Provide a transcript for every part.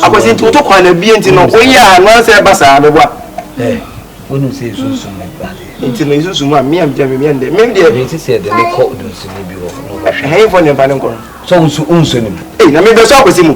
akwasi nti woto kwan na bie nti no woyɛ a no ansɛ ɛba saa bɛboa wonim sɛ ɛsunsum no ba nti no ɛsunsum mu a mea mgya me mea ndɛ mem deɛ mete sɛ ɛde ne kɔ donsini bi hɔ ɛhɛmfɔ ne mpa ne nkɔ no sɛ wonso wonso nim na mebɛsɔ akwasi mu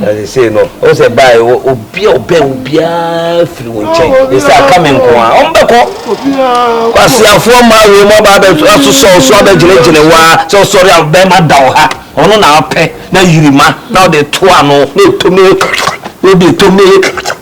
na sesei no wo sɛ bae obi a ɔbɛn wo biara firi wo nkyɛn ne sɛ aka me nko a ɔmbɛkɔ kwaseafoɔ ma wei mu aba asosɔ wo so abɛgyinagyina wo a sɛ ɔsɔre a bɛma da wo ha ɔno na apɛ na yirima na ɔde to ano na ɛtom ne yɛ wode ɛtom ne yɛ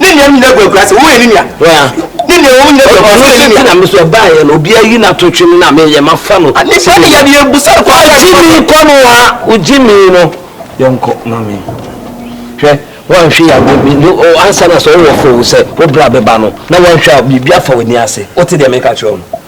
ne nea nyina gu agura sɛ wo yɛ ne nua ne nea wɔn nyina gu agura sɛ yɛ ne nua. na mesɛ baayɛ no obi ayi na to twem na meyɛ ma fa no. nipa ne yɛ ne yɛ busa kɔ ayɛ. ogye mi kɔ no wa ogye mi no yɛnkɔ ma me hwɛ wanhwɛ ya ansa na sɛ wowɔ fo sɛ wo bra bɛba no na wanhwɛ a biribi afa w'ani ase wote deɛ meka kyerɛ wo no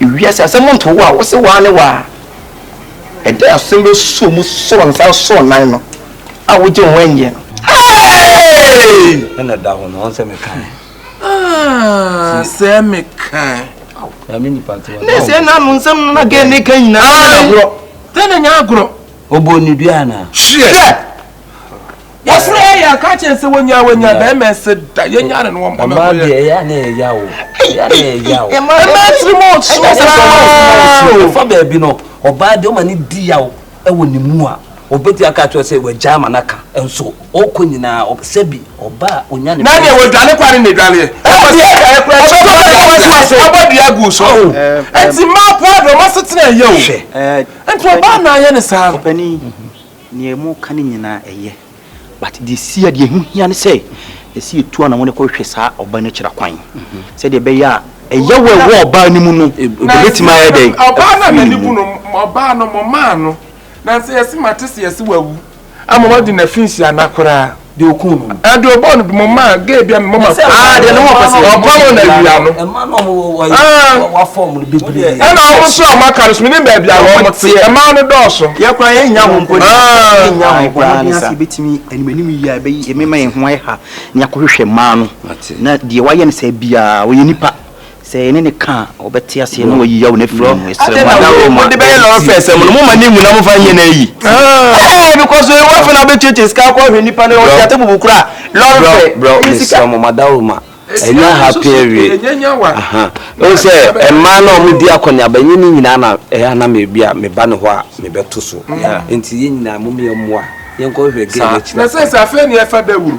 Wiase asɛm ntow wo a wose waa ne waa a, ɛdɛn asem bɛsuo mu soro nsa nso nnan no a wogye wo ho nyeɛ no? Hey! Ɛna da hɔ no, ɔn sɛ mekan. Ah, sɛ mekan. Na me nipa te wa. Ne sɛ na no nsɛm no na gɛ ne ka nyinaa. Agorɔ. Tɛ na nya agorɔ. Obo ne dua na. Hwɛ. Wɔsoro yɛ yɛ aka kyerɛ sɛ wɔnya wɔnya bɛrima ɛsɛ da yɛnya ne no wɔn pɔmɛ kɔ yɛ. ɛyɛ ne yɛ ya o ɛyɛ ne yɛ ya o. ɛmɛ ɛsiri mu ɔsoro saa o. ɛyɛ sɛ ɔbaa yɛ kuma yɛ si o ɛfa baabi no ɔbaa deɛ ɔma ne di ya o ɛwɔ ne mu a ɔbɛti aka kyerɛ sɛ wɔagya ama no aka nso ɔkɔ nyinaa sɛbi ɔbaa ɔnya ne. na deɛ wɔdwane kwa ne ne dwaneɛ. ɛwɔ sɛ ɛyɛ kura ɛkyɛ ɔbɛbɔ ɔbɔ deɛ agu so. ɛti mmaa po adɔ ɔma setena ɛyɛ o. nti ɔbaa na ayɛ ne saa. Nea moka no nyinaa ɛyɛ, but deɛ ɛsi a deɛ ɛho hia ne sɛ ɛsɛ yɛtu anamɔ no kɔhwehwɛ saa ɔbaa no akyira kwan sɛdeɛ ɛbɛyɛ a ɛyɛ wɔ ɛwɔ ɔbaa no mu no ɛbɛtumi ayɛ dɛ ɔbaa no anani bu no ɔbaa no mo maa no na sɛ yɛse mate sɛ yɛse wawu ama wadi na fi nhyia na koraa deɛ ɔkuu no no. ɛdeɛ ɔbɔɔ no mo ma gay bia mo ma aa deɛ ne ho ɔpɛ sɛ ɔkɔ mo na awia no ɛma na ɔmo wɔ wɔ wafɔ ɔmo no bebree ɛna ɔmo nso a ɔmo aka no so menim baabi a ɔmo te ɛma no dɔɔso yɛ kora yɛ nya ho mpo ne yɛ nya ho kora ne sa ɛbɛtumi anim anim yi a ɛbɛyi ɛmɛma yɛ ho ayɛ ha ne akɔhwehwɛ mmaa no na deɛ wayɛ no saa biara ɔyɛ nipa Sɛ yɛne no ka a, ɔbɛte aseɛ na wayi yaw no afiri yɛn mu. Yɛsrɛ mo, anyɛ Roma Mode bɛyɛ lɔre fare sɛm no, momma ne nwu na momfa nyɛ no ayi. Eeh because wei wafɛ na wobɛtuatua sika akɔ ahwɛ nipa no, ɔte ate bubu koraa, lɔre fare, ɛnyɛ sika. Bro, bro, mesrɛ mo, mada Roma, ɛnyɛ ha pɛn awie. Aha, wohu sɛ mmaa no a wɔdi akɔneaba, ɛnyɛ ne nyinaa na ɛyɛ a na me bi a meba ne hɔ a mebɛto so. Nti yɛn nyinaa mom yɛmmoa, yɛnkɔhwehwɛ girl no akyiri akwan. Nasɛ sɛ afei ne ɛfa dawuru.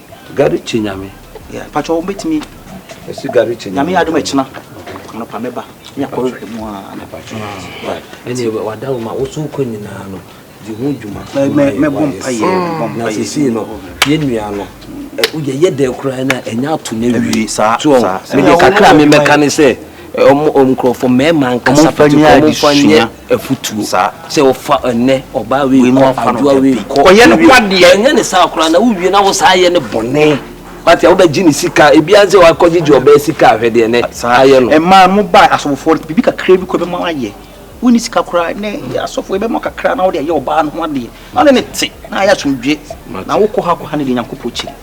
Gary kye nyame. Yeah pacho wo betumi. Esi Gary kye nyame. Nyame adum ekyina. Anopa meba. Me akɔre hwɛ mu a na pacho. Ene wada wo ma wo so kɔ nyina no. Di ho dwuma. Me me bom pa ye, me bom pa ye. Na sisi no. Ye nua no. Wo ye ye de kura na enya ato na wie. Sa sa. Me de kakra me meka ne se. Om om krofo mema nkasa pati ko mo fanya. afutuo sɛ ɔfa ɛnɛ ɔbaa wei kɔ adwoa wei kɔ ɔyɛ no kwa deɛ ɛnyɛ ne saa koraa na wowie na wo saa yɛ ne bɔne wate a wobɛgye ne sika ebia sɛ wakɔgyegye ɔbaa sika ahwɛ deɛ nɛ ayɛ no ɛmaa mo baa asɔfofoɔ no biribi kakra bi kɔ ɛbɛma ayɛ wonni sika koraa nɛ asɔfoɔ ɛbɛma kakra na wode ayɛ ɔbaa no ho adeɛ na wode ne te na ayɛ asomdwe na wokɔ ha kɔ ha ne deɛ nyankopɔn kyiri